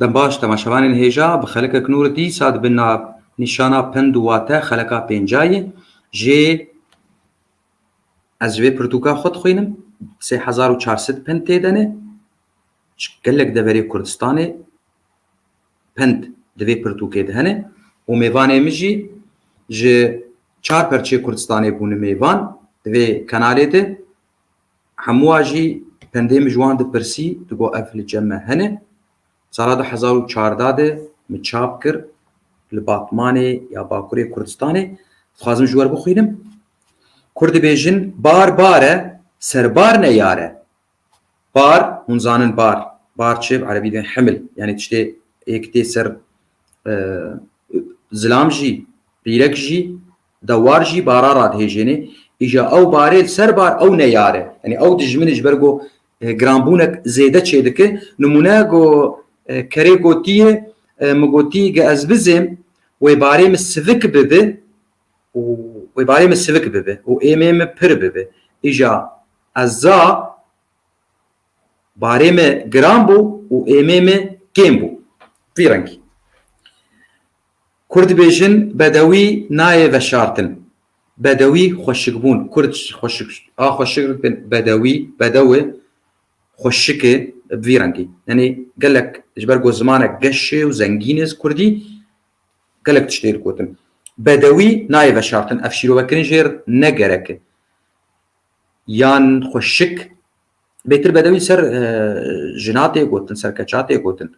Dem baş, temaşevanên hêja bi xelika kinûr dîsa dibin na nîşana pend û wate xelika pêncayî jê ez ji vê pirtûka xwe dixwînim sê hezar û çar sed pend tê de ne ji gelek deverê Kurdistanê pend di vê pirtûkê de hene û mêvanê min jî ji çar perçê Kurdistanê bûne mêvan di vê kenalê de Hemû a jî pendê min ji wan dipirsî, digot ev li cem me hene. Sala du hezar û çardeh de min çap kir li Batmanê ya Bakurê Kurdistanê. Dixwazim ji we re bixwînim. Kurd dibêjin bar bar e, serbar ne yar e. Bar, hûn zanin bar. Bar çi? Bi erebî bên himl. Yanî tiştê yek tê ser zilam jî, rîrek jî Dewar jî bara radihêjênê îja ew barê li ser bar ew neyar e. Yanî ew dijminê ji ber ku giranbûnek zêde çêdike. Nimûne ku kerê gotiye min gotî ge ez bizêm wê barê min sivik bibe û wê barê min sivik bibe û êmê min pir bibe. Îja ez za barê min giran bû û êmê min kêm bû. Vî rengî. Kurd dibêjin bedewî nayê veşartin. Bedewî xweşikbûn. Kurd ji xweşik a xweşik bin bedewî, bedew e, xweşik e bi vî rengî. Yanî gelek ji ber ku zimanek geş e û zengîn e kurdî gelek tişt tê digotin. Bedewî nayê veşartin. Ev şîrovekirin jê re ne gerek e. Yan xweşik. Bêtir bedewî ser jina tê gotin, ser keça tê gotin.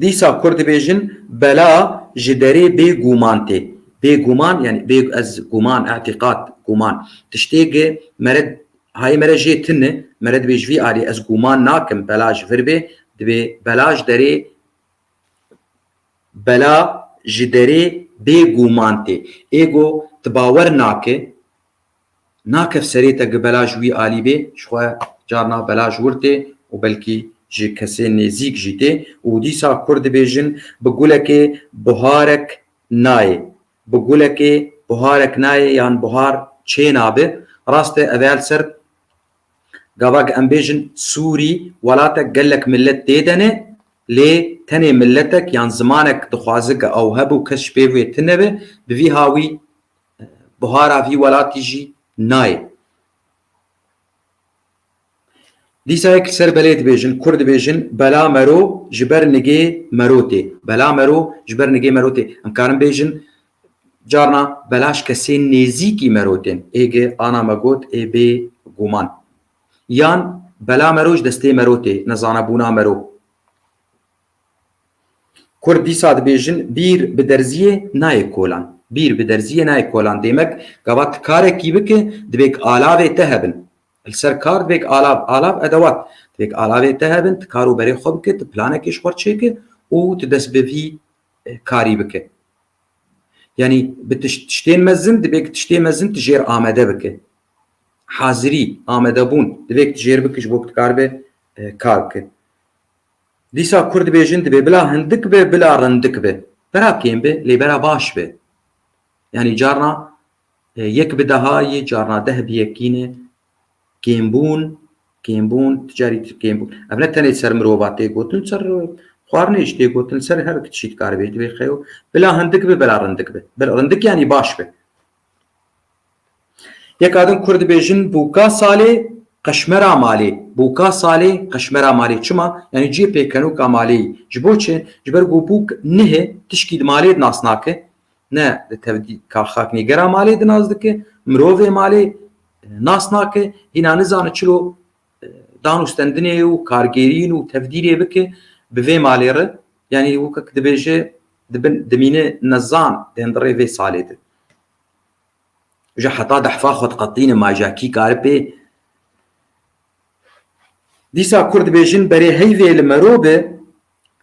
Dîsa kur dibêjin bela ji derê bê gûman tê. Bê gûman yanî bê ez gûman îtîqad gûman tiştê gi mere hayê mere jê tune e mere dibê ji vî alî ez gûman nakim bela ji vir bê dibê bela ji derê bela ji derê bê gûman tê. Êgo tu bawer nake. Nakef serê te gi belaj wî alî bê, ji xwe carna belaj wir tê û belkî ji kesên nêzîk jî tê û dîsa Kurd dibêjin bi gulekê buharek nayê. Bi gulekê buharek nayê yan buhar çênabe. Rast e ev ê li ser gava em bêjin Sûrî welatek gelek milet tê de ne lê tenê miletek yan zimanek dixwaze ge ew hebû kes ji pêv wê tune be bi vî hawî Buhara vî welatî jî nayê. Dîsa yek li ser belê dibêjin, kur dibêjin bela mero ji ber nigê mero tê. Bela mero ji ber nigê mero tê. Em karin bêjin carna bela ji kesên nêzîkî mero tên. Ê gi ana me got ê bê guman. Yan bela mero ji destê mero tê, nezanebûna mero. Kurd dîsa dibêjin bîr bi derziyê nayê kolan. Bîr bi derziyê nayê kolan demek gava tu karekî bike divêk alavê te hebin. Li ser kar divêk alav, alav edewat, divêk alavê te hebin, tu kar û berê xwe bike, tu planekê ji xwe re çêke û tu dest bi vî karî bike. Yanî bi tiştên mezin divêk tiştê mezin tu jêr amede bike. Hazirî, amedebûn divêk tu jêr bike ji bo ku tu karibe kar bike. Dîsa Kurd dibêjin divê bila hindik be bila rindik be. Bera kêm be lê bera baş be. Yanî carna e, yek bi deha yê, carna deh bi yekîn e. Kêmbûn, kêmbûn, tu carî tu kêmbûn. Ev ne tenê ser mirova tê gotin, li ser xwarinê jî tê gotin, li ser her tişî dikaribêj. Divê xeyo bila hindik be bila rindik be. Bila rindik yanî baş be. Yeka din kur dibêjin bûka salê qeşmera malê. Bûka salê qeşmera malê. Çima? Yanî ciyê pêkenoka malê yî. Ji bo çi? Ji ber ku bûk nihê tişkî di malê di nas nake. Ne di tevdî ka xaknêgera malê di nas dike, mirovê malê nas nake, hîna nizane çilo danûstendinê û kargêrîn û tevdîrê bike bi vê malê re yanî weke ku dibêje dibin dimîne nezan bên di rê vê salê de ji heta dehfa xwe diqetlîne ma ja kî kari pê dîsa kur dibêjin berê heyvê li mero be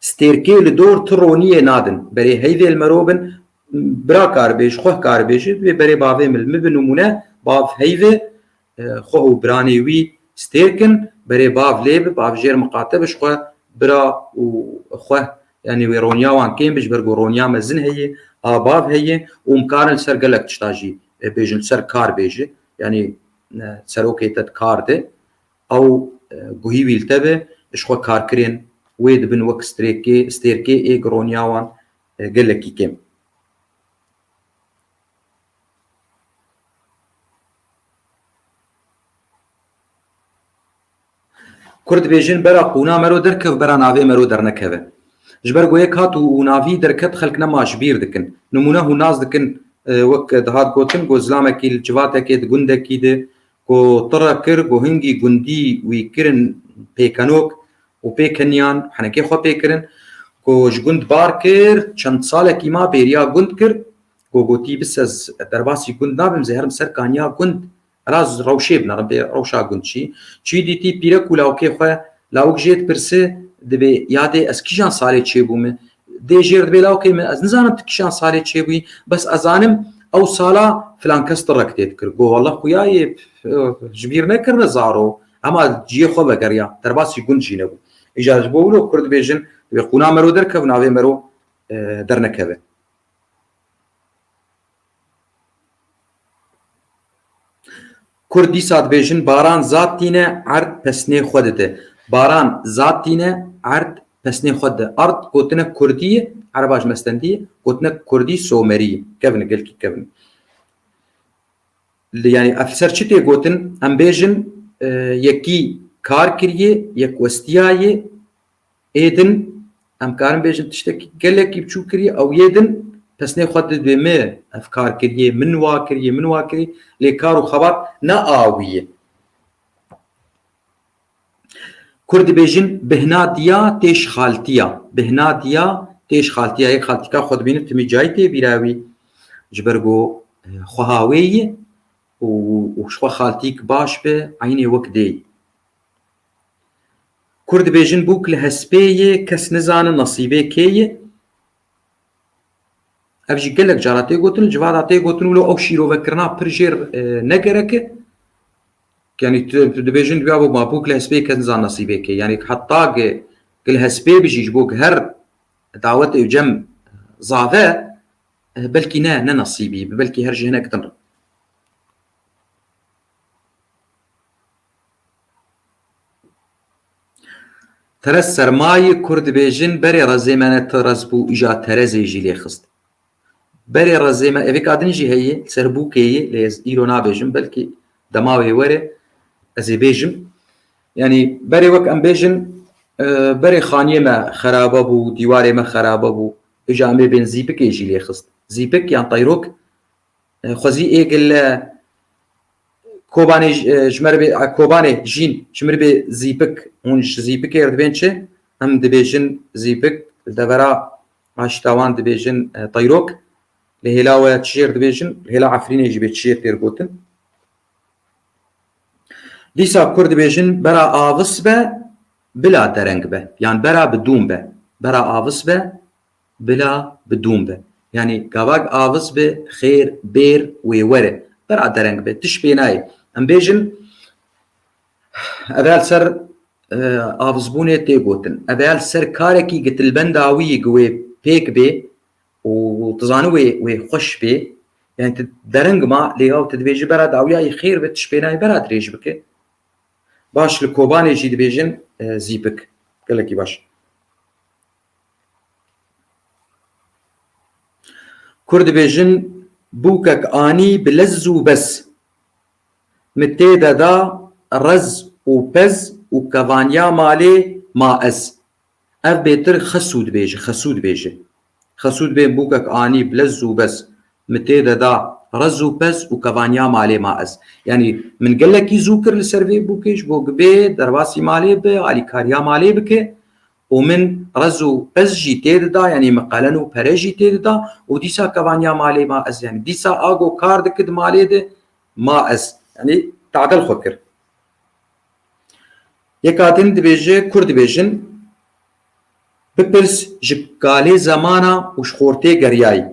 stêrkê li dor tu roniyê nadin berê heyvê li mero bin bira karibêj xweh karibêji vê berê bavê min min bi nimûne bav heyvê xwe û biranê wî stêr kin, berê bav lê bi, bav jêr miqate bi ji xwe, bira û xwe yanî wê roniya wan kêm bi ji ber ku roniya mezin heye, a bav heye û em karin li ser gelek tişta jî bêjin, li ser kar bêje yanî serokê te di kar de, ew guhî wî li te be, ji xwe karkirên wê dibin wek strêkê, stêrkê ê ku roniya wan gelekî kêm. Kur dibêjin bera qûna mero derkev bera navê mero dernekeve. Ji ber goyê kat û navî derket xelk nema ji bîr dikin. Nimûne hûn nas dikin wek dihat gotin ku zilamekî li civatekê di gundekî de ku tire kir ku hingî gundî wî kirin pêkenok û pêkeniyan henekê xwe pê kirin ku ji gund bar kir çend salekî ma bêriya gund kir Ku gotî bi sez derbasî gund nabim zê herim ser kaniya gund ra rewşê bina ribê rewşa gund çî. Çî dîtî pîrek û lawikê xwe. Lawik jê dipirsi dibê ya dê ez kîjan salê çêbûme? Dê jêr dibê lawikê min ez nizanim tu kîjan salê çêbûyî bes ez zanim ew sala filan kes tu rek tê dikir. Go walla xuya yê ji bîr nekirine zaro hema ciyê xwe vegeriya derbasî gund jî nebû. Îja ji bo wilo kurd dibêjin dibê qûna mero derkeve navê mero dernekeve. Kurd dîsa dibêjin baran zad tîne erd pesnê xwe dide. Baran zad tîne erd pesnê xwe dide. Erd gotinek kurdî ye, ereba ji mestendî ye, gotinek kurdî somerî ye. Kevin e gelkî kevin e. Li yanî ev li ser çi tê gotin? Em bêjin yekî kar kiriye, yek westiyaye, Ê din em karin bêjin tiştekî gelekî biçûk kiriye ew yê din pesnê xwe didibê me ev kar kiriye min wa kiriye min wa kiriye lê kar û xebat ne awî ye. Kurd dibêjin bihna diya tê şixaltiya bihna diya tê şixaltiya yek xaltika xwe dibînin timî cayî tê bîra wî ji ber ku xweha wê ye û ji xwe xaltîk baş be eynê wek dê. Kur dibêjin bûk li hespê yê kes nizane nasîbê kê yê. Ev jî gelek cara tê gotin li civada tê gotin wilo ew şîrovekirina pir jêr ne gerek e. Yani tu dibêjin duya bo ma bûk li hespê kes nizane nasîbê kê. Yani heta ge li hespê bijî ji bo her dawetê û cem zave belkî ne ne nasîbî belkî her ji hinek din re. Terez sermayî kur dibêjin berê rezê me ne terez bû îja terezê jî lê xist. Berê rezê me evê kadin jî heye li ser bûkê ye lê ez îro nabêjim belkî dema wê were ez ê bêjim. Yanî berê wek em bêjin berê xaniyê me xerabe bû, dîwarê me xerabe bû îja em ê bên zîpikê jî lê xist. Zîpik yan teyrok Xwezî Êgil Kobanê ji me re bê Kobanê jîn ji min re bê zîpik hûn ji zîpikê re dibên çi? Em dibêjin zîpik li devera aşîta wan dibêjin tayrok li hêla we çi jê re dibêjin li hêla Efrînê jî bê çi jê têr gotin. Dîsa kur dibêjin bera avis be bila dereng be yan bera bi dûm be bera avis be Bila bi dûm be. Yanî gavak avis bi xêr, bêr, wê were. Bira dereng be. Tişt pê nayê. Em bêjin ev ya li ser avizbûnê tê gotin. Ev ya li ser karekî gitilbenda wî gi wê pêk bê û tu zanî wê wê xweş bê. Yanî tu dereng ma lê yaw tu dibêjî bera dawyayî xêr bi tişt pê nayê bera dirêj bike. Baş li Kobanê jî dibêjin zîpik. Gelekî baş. Kur dibêjin bûkek anî bi lez û bez Min tê de da rez û pez û kevaniya malê ma ez Ev bêtir xesûd bêje, xesûd bêje Xesûd bên bûkek anî bi lez û bez Min tê de da rez û pez û kevaniya malê ma ez Yanî min gelekî zû kir li ser vê bûkê ji bo bê derbasî malê bi alîkariya malê bike û min rez û piz jî tê dida yanî min qelen û pere jî tê dida û dîsa kevaniya malê ma ez yanî dîsa a go kar diki di malê di ma ez yanî tadil xwe kir yeka din dibêje kur dibêjin bipirs ji kalê zemana û ji xortê geriyayî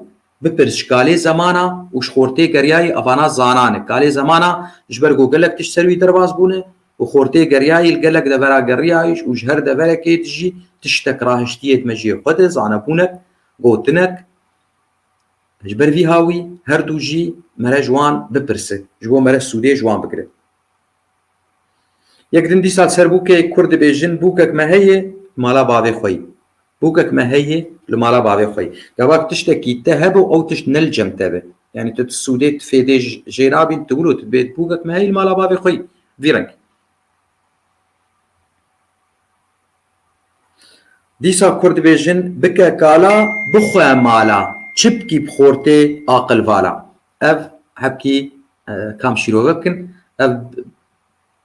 Bipirs ji kalê Zeman a û ji Xortê Geryayî avana zanan e. Kalê Zeman a ji ber ku gelek tişt ser wî derbas bûne û Xortê Geryayî li gelek devera geriyayiş û ji her deverekê dijî tiştek rahiştiye dime cihê xwe de, zanebûnek, gotinek. Ji ber vî hawî her du jî mere ji wan bipirse, ji bo mere sûdê ji wan bigire. Yek din bîst sal ser bûkê kurd dibêjin bûkek me heye li mala bavê xwe yî. Bûkek me heye li mala bavê xwe yî. Gavak tiştekî te hebe ew tişt ne li cem te be. Yanî tu ti sûdê ti fêdê jê nabîn tu wilo tu dibê tu bûkek me heye li mala bavê xwe yî. Vî reng. Dîsa kurd dibêjin bike kala bixwe mala çipkî bi xortê aqil vala. Ev hepkî kam şîrove bikin. Ev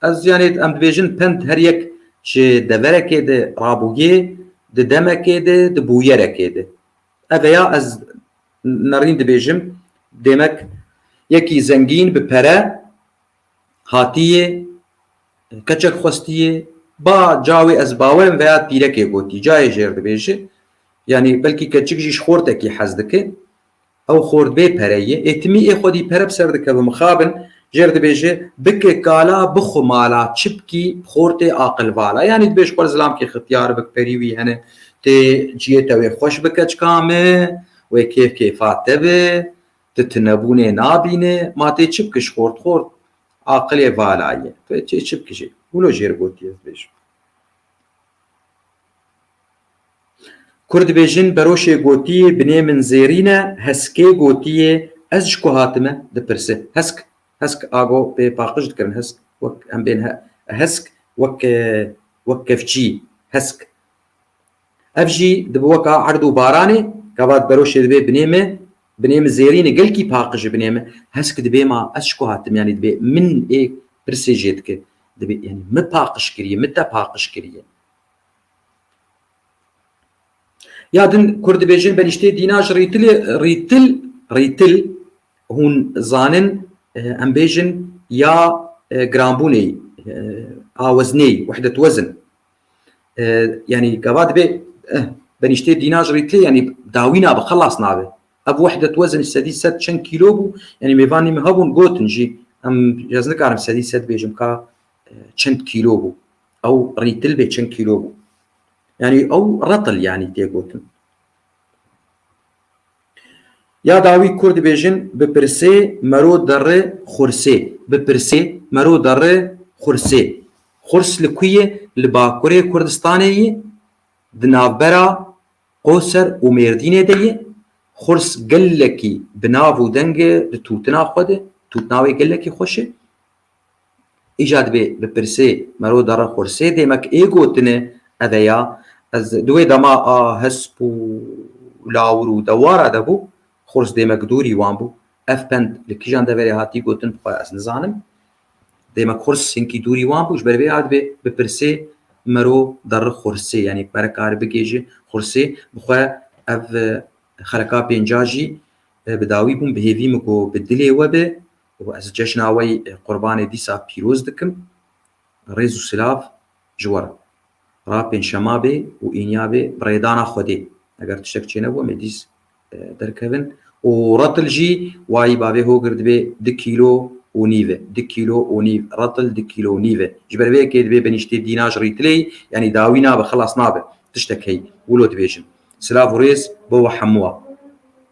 ez yanê em dibêjin pend her yek ji deverekê de rabûyê di demekê de di bûyerekê de. Ev ya ez nerîn dibêjim demek yekî zengîn bi pere hatiyê keçek xwestiyê ba cawê ez bawerim veya pîrekê gotî cayê jêr dibêji yanî belkî keçik jî ji xortekî hez dike Ew xort bê pere ye. Ê timî ê xwedî pere bi ser dikeve mixabin. Jêr dibêje, Bike kala bixwe mala çipkî xortê aqil vala. Yanî dibêj xwe li zilamkê xitiyar bik perî wî hene tê ciyê te wê xweş bike çika me, wê kêf kêfa te be, tu tinebûnê nabîne. Ma tê çipkiş xort xort aqilê vala ye. Tu ê çê çipkijê. Wilo jêr gotiye dibêje. Kur dibêjin Beroşê gotiyê binê min zêrîn e, Heskê gotiyê ez ji ku hatime dipirse. Hesk, hesk a go pê paqij dikirin hesk wek em bên he hesk wek wek kevçî hesk. Ev jî dibi weka erd û baranê gavat beroşê dibê binê me binê min zêrîn e gelkî paqij e binê min hesk dibê ma ez ji ku hatim yanî dibê min ê pirsê jê dike dibê yanî min paqij kiriye min te paqij kiriye. Ya din Kurd dibêjin benîştê dîna ji rîtilê rîtil rîtil hûn zanin em bêjin ya giranbûnê aweznê wehdet wezin yanî gava dibê benîştê dîna ji rîtilê yanî dawîna bi xelas nabe ev wehdet wezin sedî sed çend kîlo bû yanî mêvanî min hebûn gotin jî em ez nikarim sedî sed bêjim ka çend kîlo bû Ew rîtil bê çend kîlo bû. Yanî ew retil yanî tê gotin. Ya dawî kur dibêjin bipirsê mero derri xursê. Bipirsê mero derri xursê. Xurs li ku yê? Li bakurê Kurdistanê yê, di navbera Qoser û Mêrdînê de yê. Xurs gelekî bi nav û deng e di tûtina xwe de. Tûtina wê gelekî xweş e. Îcar dibê bi pirsê mero dere xursê dêmek ê gotine ev e ya ez di wê dema a hesp û lawir û dewara de bû xurs dêmek dûrî wan bû. Ev pend li kîjan deverê hatî gotin bi xwe ez nizanim. Dêmek xurs hinkî dûrî wan bû ji ber vê a dibê bi pirsê mero dere xursê yanî mere kari bigê ji xursê bi xwe ev xeleka pênca jî bi dawî bûn bi hêvî min ku bi dilê we be û ez cejna wê qurbanê dîsa pîroz dikim. Rêz û silav ji we re. Ra pêncşema bê û îniya bê bi rêdana Xwedê. Eger tiştek çênebû em ê dîs derkevin. Û retil jî wayî bavê Hogir dibê du kîlo û nîv e. Du kîlo û nîv. Retil du kîlo û nîv e. Ji ber vê yekê dibê benîştê dîna ji rîtilê yî yanî dawî nabe, xilas nabe. Tiştek heye. Wilo dibêjin. Silav û rêz bo we hemû a.